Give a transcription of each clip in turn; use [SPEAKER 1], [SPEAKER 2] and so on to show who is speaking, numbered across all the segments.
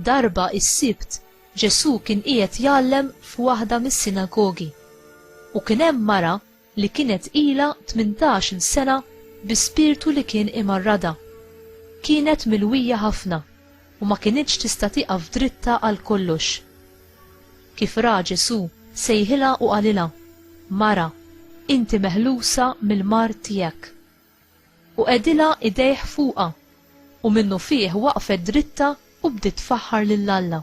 [SPEAKER 1] Darba is-Sibt Ġesù kien qiegħed jgħallem f'waħda mis-sinagogi u kien hemm mara li kienet ilha tmintax-il sena bi spirtu li kien imarradha. Kienet milwija ħafna u ma kinitx tista' tieqaf dritta għal kollox. Kif ra Ġesù, sejħilha u qalilha, Mara, inti meħlusa mill-mard tiegħek. U qegħdilha idejh fuqha, u minnufih waqfet dritta u bdiet tfaħħar lil Alla.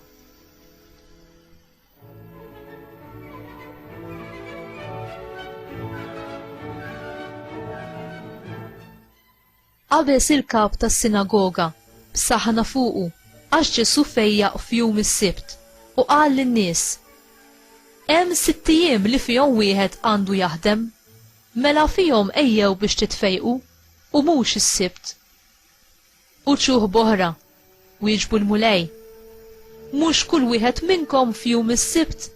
[SPEAKER 1] Qabeż il-kap tas-sinagoga, b'saħħna fuqu, għax Ġesù fejjaq f'jum is-Sibt u qal lin-nies, Hemm sitt ijiem li fihom wieħed għandu jaħdem, mela fihom ejjew biex titfejqu u mhux is-Sibt. Uċuh b'oħra, wieġbu l-Mulej, Mhux kull wieħed minnkom f'jum is-Sibt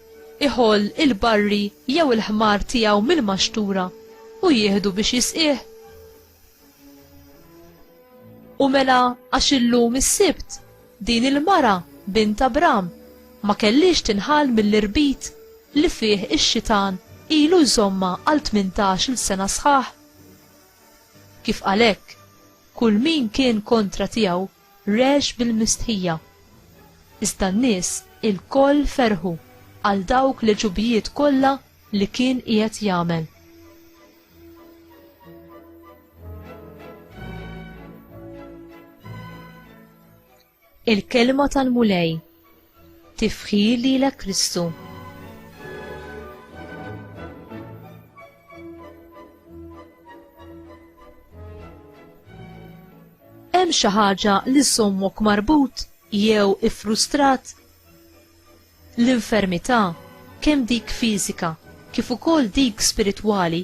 [SPEAKER 1] iħoll il-barri jew il-ħmar tiegħu mill-maxtura u jieħdu biex jisqih? U mela għax illum is-Sibt din il-mara, bint Abram, ma kellhiex tinħall mill-irbit li fih ix-xitan ilu jżommha għal tmintax-il sena sħaħ? Kif qal hekk, Kull min kien kontra tiegħu regħx bil-mistħija. Iżda n-nies ilkoll ferħu għal dawk l-għeġubijiet kollha li kien qiegħed jagħmel. Il-Kelma tal-Mulej. Tifħir lilek Kristu. Hemm xi ħaġa li sommok marbut jew iffrustrat? L-infermità, kemm dik fiżika kif ukoll dik spiritwali,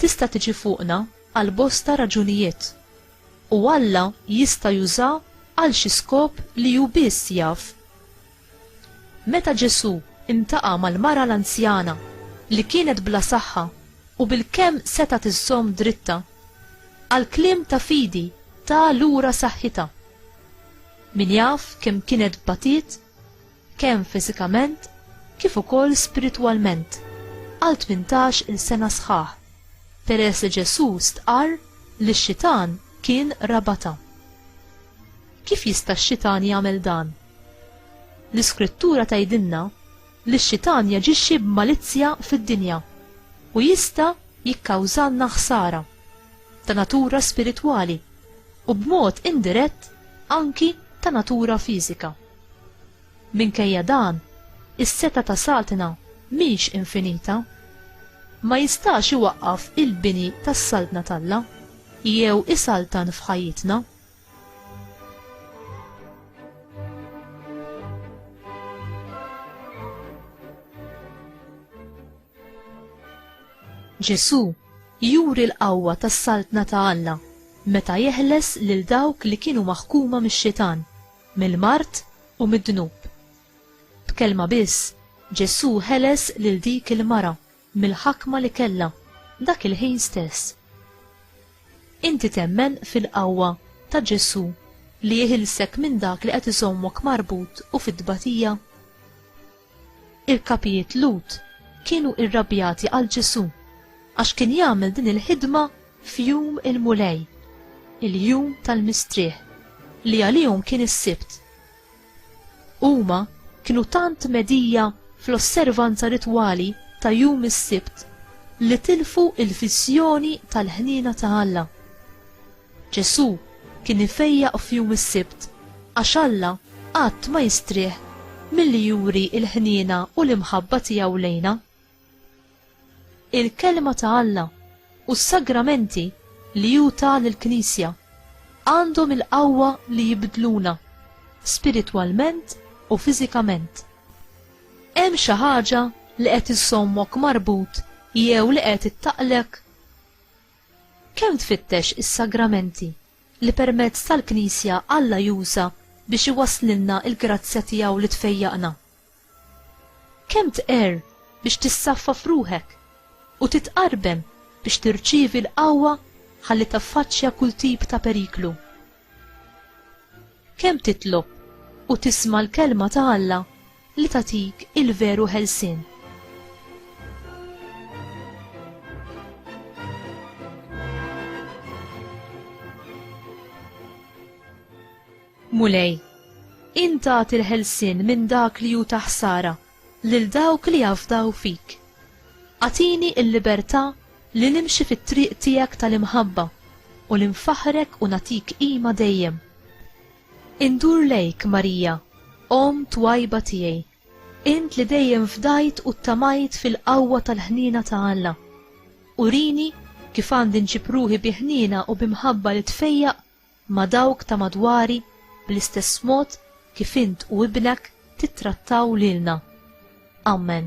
[SPEAKER 1] tista' tiġi fuqna għal bosta raġunijiet, u Alla jista' jużha għal xi skop li hu biss jaf. Meta Ġesù ltaqa' mal-mara l-anzjana li kienet bla saħħa u bilkemm setgħet iżżomm dritta, għal kliem ta' fidi ta lura saħħitha. Min jaf kemm kienet batiet? kemm fiżikament kif ukoll spiritwalment għal 18 il sena sħaħ, peress li Ġesù stqarr li x-xitan kien rabata. Kif jista' x-xitan jagħmel dan? L-Iskrittura tgħidilna li x-xitan jaġixxi b'malizzja fid-dinja u jista' jikkawżalna ħsara ta' natura spiritwali u b'mod indirett anki ta' natura fiżika. Minkejja dan, is-setgħa ta' Satna mhix infinita. Ma jistax iwaqqaf il-bini tas-Saltna t'Alla jew isaltan f'ħajjitna. Ġesù juri l-qawwa tas-Saltna ta' Alla meta jeħles lil dawk li kienu maħkuma mix-Xitan mill-mard u mid-dnub. B'kelma biss, Ġesù ħeles lil dik il-mara mill-ħakma li kellha dak il-ħin stess. Inti temmen fil-qawwa ta' Ġesù li jeħilsek minn dak li qed iżommok marbut u fit-tbatija? Il-kapijiet Lut kienu irrabjati għal Ġesù għax kien jagħmel din il-ħidma f'jum il-Mulej, il-jum tal-mistrieħ, li għalihom kien is-Sibt. Huma kienu tant medija fl-osservanza ritwali ta' jum is-Sibt li tilfu il-viżjoni tal-ħniena ta' Alla. Ġesù kien ifejjaq f'jum is-Sibt għax Alla qatt ma jistrieħ milli juri l-ħniena u l-imħabba tiegħu lejna. Il-Kelma ta' Alla u s-sagramenti li hu ta lill-Knisja għandhom il-qawwa li jibdluna, spiritwalment u fiżikament. Hemm xi ħaġa li qed iżżommok marbut jew li qed ittaqlek? Kemm tfittex is-sagramenti li permezz tal-Knisja Alla juża biex iwasslilna l-grazzja tiegħu li tfejjaqna? Kemm tqerr biex tissaffaf ruħek u titqarbem biex tirċievi l-qawwa ħalli taffaċċja kull tip ta' periklu? Kemm titlob u tisma' l-kelma ta' Alla li tagħtik il-veru ħelsien? Mulej, int tagħti l-ħelsien minn dak li hu ta' ħsara lil dawk li jafdaw fik. Agħtini l-libertà li nimxi fit-triq tiegħek tal-imħabba u li nfaħħrek u nagħtik qima dejjem. Indur lejk, Marija, Omm twajba tiegħi, int li dejjem fdajt u ttamajt fil-qawwa tal-ħniena ta' Alla. Urini kif għandi nġib ruħi bi ħniena u bi mħabba li tfejjaq ma' dawk ta' madwari bl-istess mod kif int u ibnek tittrattaw lilna. Ammen.